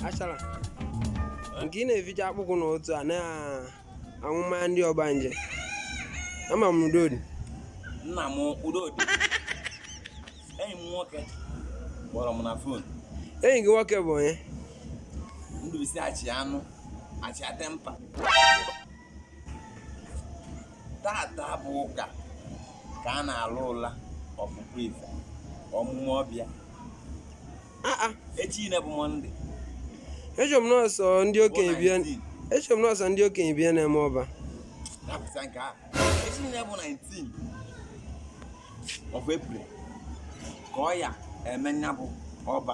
achara nke ị na-eficha akpụkwụ na otu a na-aṅụ mmanya ndị ọgbanje ama m udodi nna m udodi enyi m nwoke kpọrọ m na fon enyi gị nwoke bụ onye ndụbisi achị anụ achị atempa tata bụ ụka ka a na-alụ ụla ọpụpụ ife omume ọbịa echi na bụ mọnde echere m na ọ sọ ndị okenye bịa echere m na ọ sọ ndị okenye bịa na-eme ọba dapụta nke a echi na bụ 19 of April ka ọ ya eme nya bụ ọba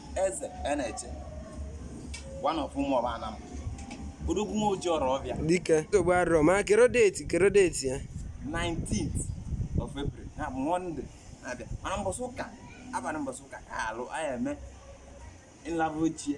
eze eneche one of ụmụ ọba anam odogwu nwa oji ọrụ ọbịa dike nsogbu adịrọ ma kero date kero date ya 19th of April nya bụ Monday na-abịa mana mbọsị ụka abalị mbọsị ụka ka alụ anyị eme nlaba ochie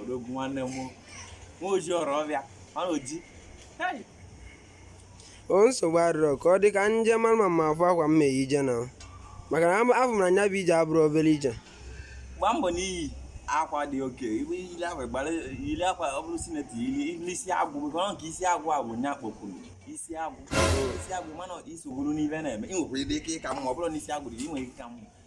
odogwu nwanne m nwa oji ọrụ ọbịa mana oji o nsogbu adịrọ ka ọ dị ka nje mara ma m afụ akwa m ma-eyi ije na maka na afụ m na nya bụ ije abụrọ obere ije gbaa mbọ n'iyi akwa dị okay iwe ile akwa gbara ile akwa ọ bụrụ senator ili n'isi agụ maka ọ nke isi agụ agụ nya kpọkwuru isi agụ isi agụ mana isi gwuru n'ife na-eme ị nwekwara ike ịka mma ọ bụrụ na isi agụ dị ị nwere ike ka mma